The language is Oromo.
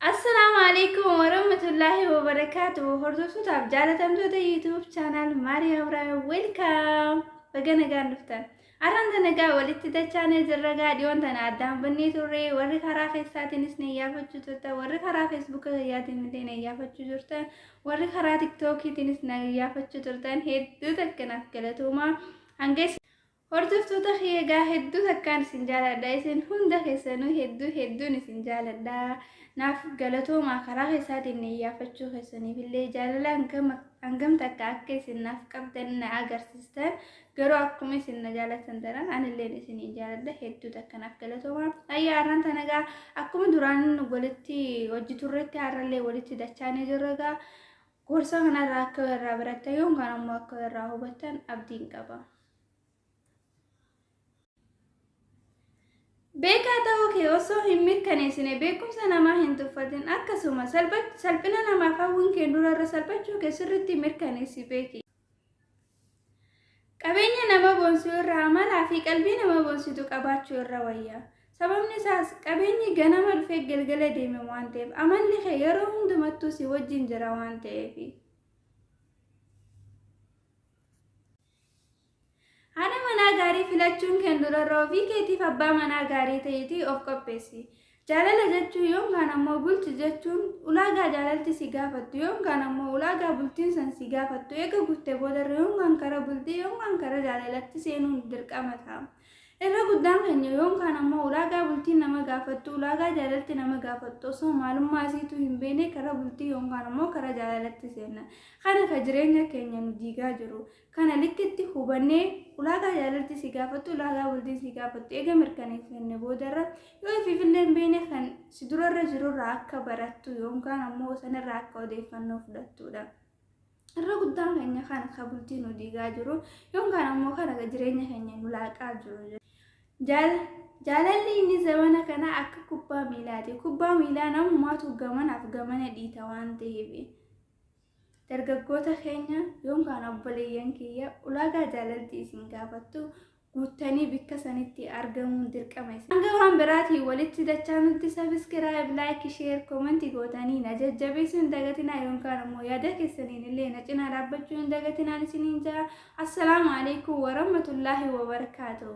Assalaamu alaikum warahmatullaahi wabarakaatu hordoftotaaf jaalatamtoota yuutuub chaanaal Maariyaa Ibraahim welkaam baga nagaan dhuftan arraan tana gaa walitti dachaanee jirra gaa dhiyoon tana addaan bannee turre warri karaa keessaatiinis na iyyaafachuu turtan warri karaa feesbuuka kiyyaatiin illee na iyyaafachuu turtan warri karaa tiktookiitiinis na iyyaafachuu turtan hedduu takka naaf galatoomaa hanga Hordoftoota kiyya egaa hedduu takkaan isin jaaladha isin hunda keessanuu hedduu hedduun isin jaaladha naaf galatoomaa karaa keessaatiin iyyaafachuu keessaniif illee jaalala hangam hangam takka akka isin naaf qabdan na agarsiistan garuu akkuma isin na jaalatan tanan anilleen isin jaaladha hedduu takka naaf galatoomaa ayyaa har'aan tana egaa akkuma duraan walitti hojii turretti har'allee walitti dachaanee jirra egaa gorsa kanarraa akka irraa barattan yoon kan ammoo akka irraa hubattan abdiin qaba. Beekaa ta'uu kee osoo hin mirkaneessine beekumsa namaa hin tuffatin akkasuma salphina namaaf hawwiin kee durarra salphachuu kee sirriitti mirkaneessi beeki. Qabeenya nama boonsuu irra amalaa fi qalbii nama boonsitu qabaachuu irra wayya. Sababni isaas qabeenyi ganama dhufee galgala deeme waan ta'eef amalli kee yeroo hundumattuu si wajjin jira waan ta'eefi. Haadha manaa gaarii filachuun keen durarra ofii keetiif abbaa manaa gaarii ta'iitii of qopheessi. Jaalala jechuu yoomkaan ammoo bulchi jechuun ulaagaa jaalalti si gaafattu yoomkaan ammoo ulaagaa bultiin san si gaafattu eega guutte boodarra yoomkaan kara bultii yoomkaan kara jaalalatti seenuun dirqama ta'a. Irra guddaan keenya yoom kaan ammoo ulaagaa bultiin nama gaafattu, ulaagaa jaalalti nama gaafattu osoo maalummaa isiituu hin beekne karaa bultii yoom kaan ammoo karaa jaalalatti seenna. Kana ka jireenya keenya nu diigaa jiru. Kana likkitti hubannee ulaagaa jaalalti si gaafattu, ulaagaa bultiin si gaafattu eega mirkaneeffanne boodarra yoo ifiifillee hin beekne kan si durarra jirurraa akka barattu yoom kaan ammoo sanirraa akka odeeffannoo fudhattuudha. irra guddaan keenya kan ka bultii nu diigaa jiru yoon kan ammoo kan aga jireenya keenya nu laaqaa jiru Jaal- jaalalli inni zamana kana akka kubbaa miilaati kubbaa miilaa namummaatu gamanaaf gamana dhiita waan ta'eef dargaggoota keenya yoon kan obboleeyyan kiyya ulaagaa jaalalti isin gaafattu guuttanii bikka sanitti argamuun dirqama isin. Hanga waan biraatiin walitti dachaanutti sabiskiraayib, laayik, sheer, komanti gootanii na jajjabeessuu hin dagatinaa yookaan ammoo yaada keessaniin illee na cinaa dhaabbachuu hin dagatinaan isiniin ja'a. Assalaamu alaikum warahmatullaahi wabarakaatuh.